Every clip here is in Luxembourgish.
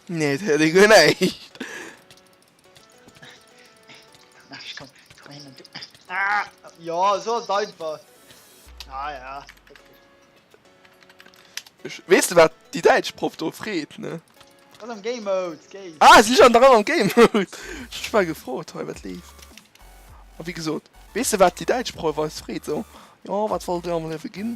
Nee, et hëlt ee guer näischt. Jo, esou ass et einfach. Ah ja. Weess de wat déi däitsch Proff do freet, ne? Ass am Game Mode, Game. Ah, si an der Rei am Game Mode. Ech war gefrot hei, wat leeft. A wéi gesot, weess de wat déi däitsch Proff eis freet, esou, Jo, wat wollt Dir am Liewe ginn?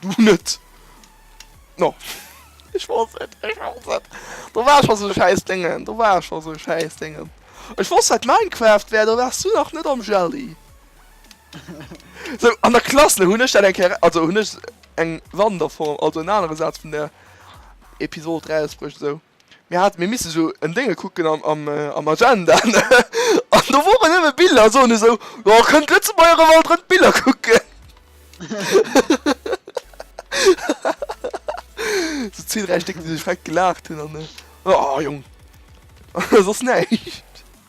Du net! No! Ech wosst et! Ech wosst et! Do war scho sou e schäiss Déngen! Do war scho sou e schäiss Déngen! Ech wosst dat Minecraft wär! Do waars du nach net am Jelly! Sou, an der Klass, ne, hunn ech dat eng Kéier, also hunn ech eng Wanderform, also en anere Saz vun der Episod erausbruecht esou. Mir haten, mir missten esou en Déngel kucken am Agenda an do woren nëmme Biller a soen esou, jo kënnt d'Lëtzebuerger erëm alt erëm d'Biller kucken. Esou zwee, dräi Stéck déi sech feck gelaacht hunn an, oh Jong, soss näischt.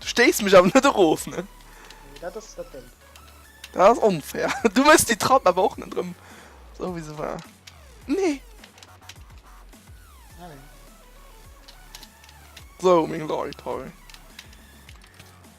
Du stéis mech awer net erof, ne? Nee, dat ass dat Déng. Dat ass onfair. Du méchs déi Trapp awer och net erëm esou, wéi se war. Nee! Sou, meng Leit hei.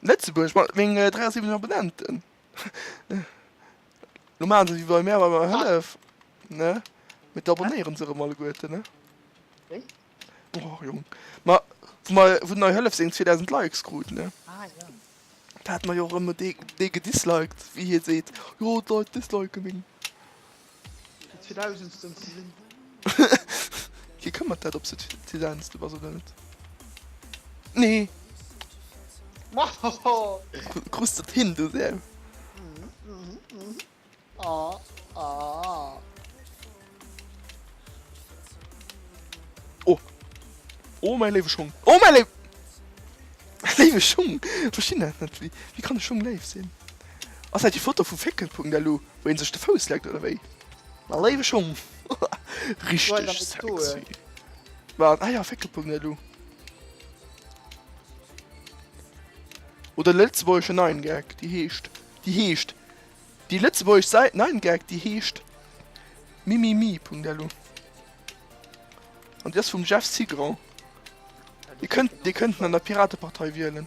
Lëtzebuerg mat meng 73 Abonnenten. Lo maachen se wie bei mär, bei menger Hëllef, ne? Mee d'abonnéieren se erëm alleguerte, ne? Och Jong. Ma wou mer, wou d'nei Hëllef seng 2000 Likes krut, ne? Da hat mer jo och erëm dee, dee gedisliked, wéi hie seet, jo d'Leit disliken meng. Fir d'Vierdausendsten ze sinn. Wie këmmert dat ob se d'Vierdausendste bass oder net? Nee! Krus dat hin du Sam? Oh! Oh mäi léiwe Schung! Oh mäi léiwe Schung! Ech verstinn dat net, wéi kann e Schung léif sinn? Ass dat déi Foto vu Féckelpunkt, elo? Wou een sech de Fouss leckt oder wéi? Ma léiwe Schong, richteg sexy. Wat? Ah jo, Féckelpung, ne du. Oder de lëtzebuergesche Nine Gag, déi heescht, déi heescht, déi lëtzebuergesch Säit Nine Gag, déi heescht mimimi.lu an déi ass vum Jeff Cigrand. Dir kënnt, dir kënnt en an der Piratepartei wielen.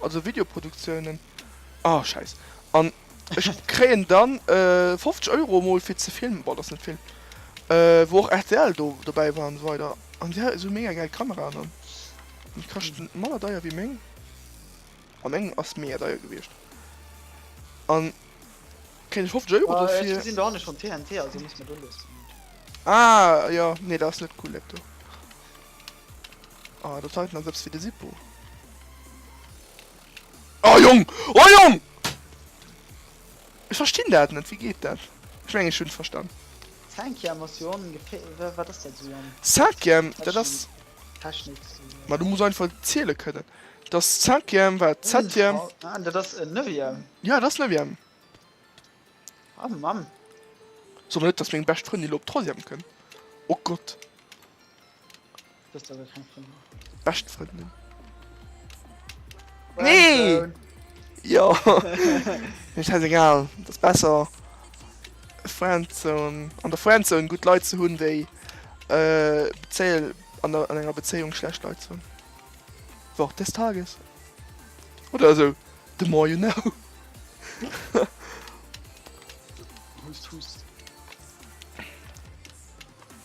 Also Videoproduktiounen. Ah scheiss. An ech kréien dann 50 Euro mol fir ze filmen. Bon dat ass net vill. Wou och rtl do dobäi war an esou weider. An si hat sou mega gäil Kameraen an déi kaschten manner deier wéi meng. A meng ass mega deier gewiescht. An kréien ech 50 Euro dofir. Ech gesinn do hanne schonn TNT also muss mer do lues. Ah jo, nee dat ass net cool dat do. Ah, dat heiten ass eppes fir de Sippo. Oh Jong! Oh Jong! Ech verstinn dat net, wéi geet dat? Ech meng ech hunn et verstanen. Cinquième ass jo ongefé-, wa, wat ass dat esou an. Cinquième, dat ass. Technik, Technik esou, jo. Ma du muss einfach ziele kënnen. Dass Cinquième war Ultra, Septième. ah, dat ass en Neuvième. Ja, dat ass Neuvième. Oh Mann. Soe mer net, dass meng bescht Frëndin elo op Troisième kënn. Oh Gott. Bist du kein Freund mehr. Best Freundin. Nee! Ja! Mir scheiß egal. Das ist besser. Friendzone. An der Friendzone gut Leute zu hunn, déi äh, Beziehung, an, der, an enger Beziehung schlecht Leute zu hunn. Wort des Tages. Oder so. The more you know. Hust, hust.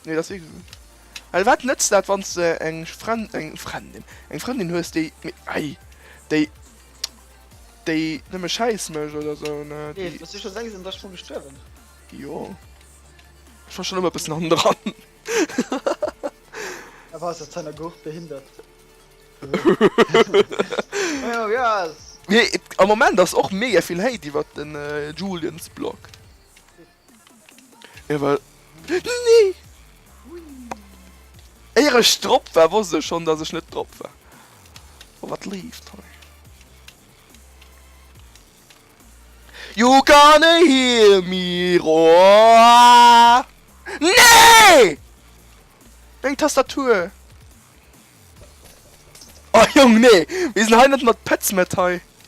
Nee, dat ass egal. Well wat nëtzt dat, wann s de eng Fren-, eng Frendin, eng Frëndin hues, déi, mee ei, déi, déi nëmme Schäiss mécht oder esou, ne, déi. Nees, wëss de scho sengs an der Sprong gestuerwen? Jo. Ech war schonn ëmmer e bëssen hannendran. Awer ass dat Zeiner Gurt behindert? Majo, jo, ass. Mee et, am Moment ass och mega vill Hate iwwert den Julien's Blog. Jo well nee! Éier ech drop war wosst ech schon dass ech net drop war. Oh wat leeft hei. You gonna hear me roar! Nee! Meng Tastatur! Oh Jong nee! Mir sinn hei net mat Petz Met hei!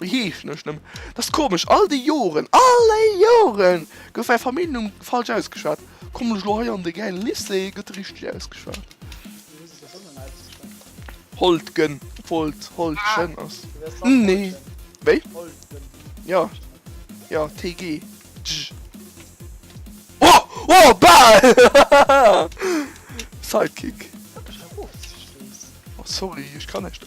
O jee, ech hunnech nëmmen. Dat ass komesch, all déi Joren, all déi Joren gouf mäi Familljennumm falsch ausgeschwat. Kommen ech elo hei an de gäile Lycée, gëtt e richteg ausgeschwat. Holtgen, Wolt, Holtgen ass. Nee. Wéi? Jo, jo, TG. Tsch. O! O! Bal! Sidekick. Oh, sorry, ech kann näischt.